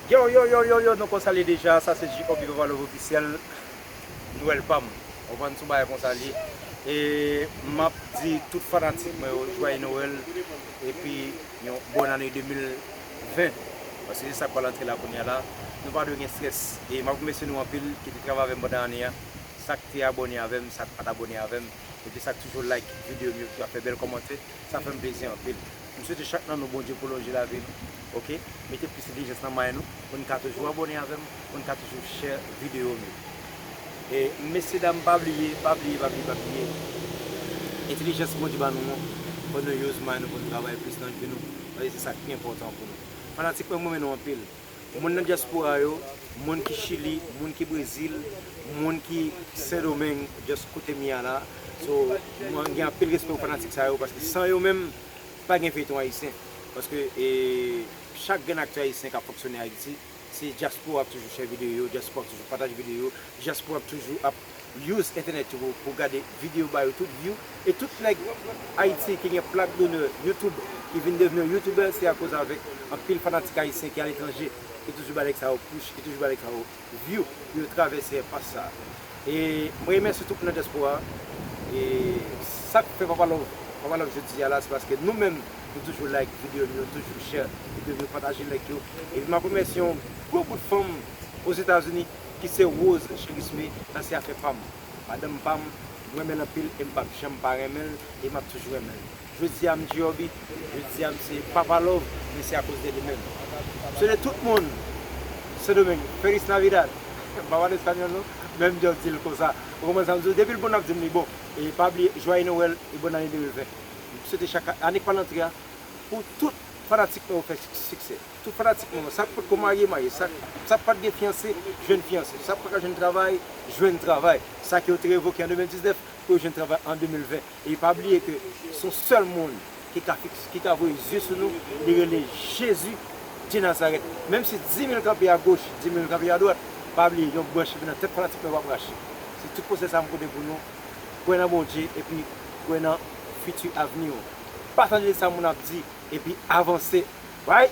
Yow yow yow yow yow nou konsa l ye deja sa se JOB papa love officiel nwèl pam ou konn sou bagay konsa l ye e map di tout fanatik mwen yo jwaye nowèl epi yon bòn ane 2020 paske se sak pral antre la kounya la nou pa dwe gen strès e map remèsye nou anpil ki te travay avèm pandan ane a sak te abòne avèm sak pat abòne avèm epi sak toujou like videyo m yo ki ap fè bèl kòmantè. Sa fèm plezi anpil. M swete chak nan nou Bondye pwolonje lavi nou ok mete plis entelijans nan may nou pou n ka toujou abòne avèm pou n ka toujou share video m yo e mesye dam pa bliye pa bliye pa bliye pa bliye entelijans Bondye ba nou an fò nou use may nou pou n travay plis nan vi nou paske se sak pi enpòtan pou nou fanatik mwen m renmen nou anpil. Moun nan dyaspora yo, moun ki chili, moun ki brezil, moun ki sendomeng just koute m ya la, so mwen gen anpil respè pou fanatik sa yo paske san yo menm pa gen feyton ayisyen paske chak grenn aktè ayisyen kap fonksyone ayiti se dyaspora ap toujou chè videyo, dyaspora ap toujou pataj videyo, dyaspora ap toujou ap. Use entenet yo pou gade video ba yo tout view e tout neg ayiti ki gen plak donè youtube ki vin devni yon youtuber se akoz avek anpil fanatik ayisyen ki aletranje ki toujou ba neg sa yo push ki toujou ba neg sa yo view pou yo travèse enpas sa e mwen remèsye tout moun nan diaspora e sak fè papa love papa love jodi a la se paske nou menm nou toujou like video nou yo toujou share video nou yo pataje link yo epi map remèsye yon gwo bout fanm ozetazini. ki se Rose Cherisme nan se afè pam madanm pam m renmen l anpil e m pap janm pa renmen l e map toujou renmen l jodia m di Urby jodia m se papa love men se akoz de li menm m swete tout moun sendomeng feliz navidad m pa pale español non men m just di l konsa ou konprann sa m di w depi l bon nap di m li bon e pa bliye joyeux Noël e bonne année 2020 m swete chak ane k pral antre a pou tout fanatik nou yo fè siksè. Tout fanatik mwen yo, sa k pat ko marye, marye, sa k pat gen fiyanse, jwenn fiyanse, sa k pa ka jwenn travay, jwenn travay, sa ke yo te revoke an 2019, pou yo jwenn travay an 2020. E pa bliye ke se yon sèl moun ki ka fiks, ki ka voye zye sou nou, li rele Jezi de Nazarèt. Menm si dimil kanpe a goch, dimil kanpe a dwat, pa bliye yon branch ki vin nan tèt fanatik mwen yo pap rache. Se tout konsèy sa m pote pou nou, kwè nan Bondye epi kwè nan fiti avni ou. pa tande sa moun ap di epi avanse right.